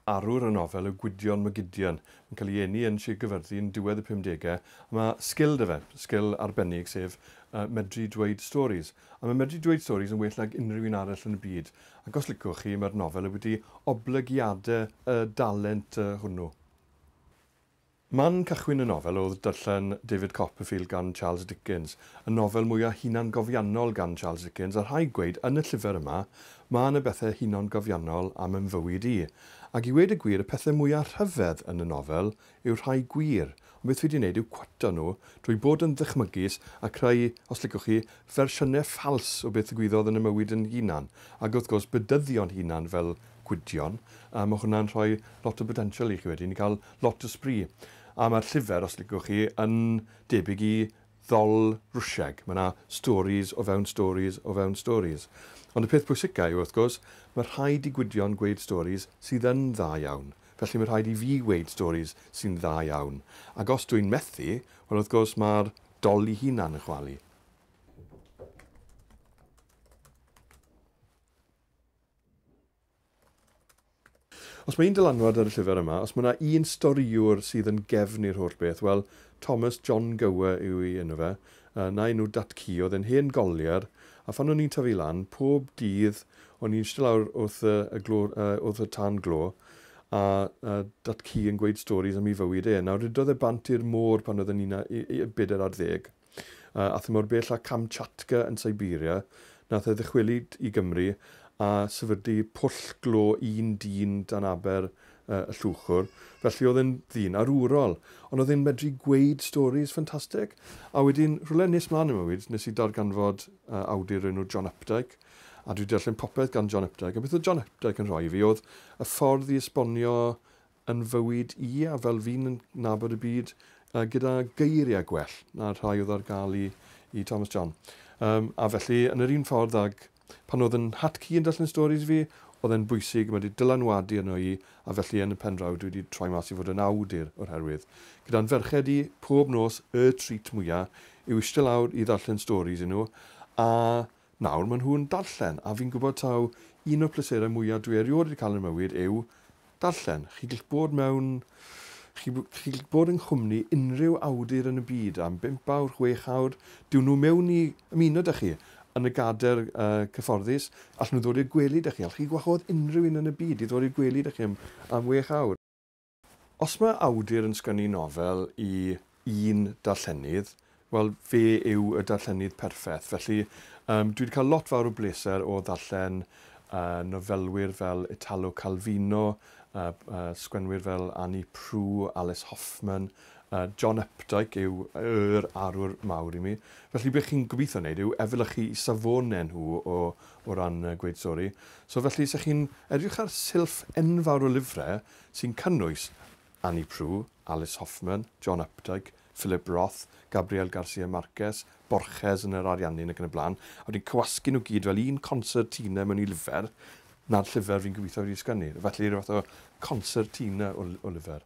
Arwr y nofel yw Gwydion Mac Gideon. Mae'n cael ei eni yn Sir Gaerfyrddin yn diwedd y pumdegau, a mae sgil 'da fe, sgil arbennig, sef medru dweud storis. A mae medru dweud storis yn well nag unrhyw un arall yn y byd, ac os liciwch chi, mae'r nofel wedi oblygiadau y dalent hwnnw. Man cychwyn y nofel oedd darllen David Copperfield gan Charles Dickens, y nofel mwyaf hunangofiannol gan Charles Dickens, a rhaid gweud, yn y llyfr yma, ma' yna bethe hunangofiannol am yn fywyd i. Ac i weud y gwir, y pethe mwyaf rhyfedd yn y nofel yw'r rhai gwir, ond beth fi 'di neud yw cwato nhw drwy bod yn ddychmygus a creu, os licwch chi, fersiynne ffals o beth ddigwyddodd yn 'y mywyd yn hunan, ag wrth gwrs bedyddion hunan fel Gwydion, a ma' hwnna'n rhoi lot o botensial i chi wedyn i ca'l lot o sbri. A ma'r llyfr, os liciwch chi, yn debyg i Ddol Rwsieg. Ma' 'na storis o fewn storis o fewn storis. Ond y peth pwysica yw, wrth gwrs, ma' rhaid i Gwydion gweud storis sydd yn dda iawn. Felly ma' rhaid i fi weud storis sy'n dda iawn. Ac os dw i'n methu, wel wrth gwrs ma'r Dol 'i hunan yn chwalu. Os mae un dylanwad ar y llyfr yma, os mae yna un storïwr sydd yn gefn i'r holl beth, wel, Thomas John Gower yw ei enw fe, yy, na'i enw dat-cu, oedd e'n hen golier, a phan o'n i'n tyfu lan, pob dydd o'n i'n ishte lawr wrth y y glo, yy, wrth y tân glo, a yy dat-cu yn gweud storis am ei fywyd e. Nawr, rhydodd e bant i'r môr pan oedd e'n un a- yy yy bedair ar ddeg. A thu mor bell â Kamchatka yn Siberia, nath e ddychwelyd i Gymru a sefydlu pwll glo un dyn dan aber y Llwchwr. Felly o'dd e'n ddyn arwrol, ond o'dd e'n medru gweud storis ffantastig. A wedyn, rhywle nes mlan yn mywyd, nes i darganfod awdur o'r enw John Updike, a dwi 'di darllen popeth gan John Updike, a beth o'dd John Updike yn rhoi i fi o'dd y ffordd i esbonio yn fywyd i a fel fi'n nabod y byd yy gyda geiriau gwell na'r rhai oedd ar gael i i Thomas John. Yym a felly yn yr un ffordd ag pan oedd yn hat ci yn darllen storis i fi, oedd e'n bwysig, mae wedi dylanwadu arno i a felly yn y pen draw dwi wedi troi mas i fod yn awdur o'r herwydd gyda'n ferched i pob nos y treat mwya yw ishte lawr i ddarllen storis i nhw a Nawr maen nhw'n darllen, a fi'n gwybod taw un o'r pleserau mwya dwi erioed wedi cael yn 'mywyd yw darllen. Chi gll bod mewn... chi chi gll bod yng nghwmni unrhyw awdur yn y byd am bump awr, chwech awr, dewn nhw mewn i ymuno 'da chi yn y gader yy cyfforddus, allen nhw ddod i'r gwely 'da chi, allwch chi gwahodd unrhyw un yn y byd i ddod i'r gwely 'da chi am am wech awr. Os mae awdur yn sgynnu nofel i un darllenydd, wel, fe yw y darllenydd perffeth. Felly, yym, dwi 'di cael lot fawr o bleser o ddarllen yy nofelwyr fel Italo Calvino, yy yy sgwennwyr fel Annie Proulx, Alice Hoffman, yy John Updike yw yr arwr mawr i mi. Felly, be' chi'n gobeithio wneud yw efelychu 'u safone nhw o o ran yy gweud stori. So felly, 'se chi'n edrych ar silff enfawr o lyfre, sy'n cynnwys Annie Proulx, Alice Hoffman, John Updike, Philip Roth, Gabriel Garcia Marquez, Borges yn yr Ariannin ac yn y blaen, a wedyn cywasgu nhw gyd fel un concertina mewn i lyfr, 'na'r llyfr fi'n gobeithio wedi ei sgwennu. Felly, rhyw fath o concertina o o lyfr.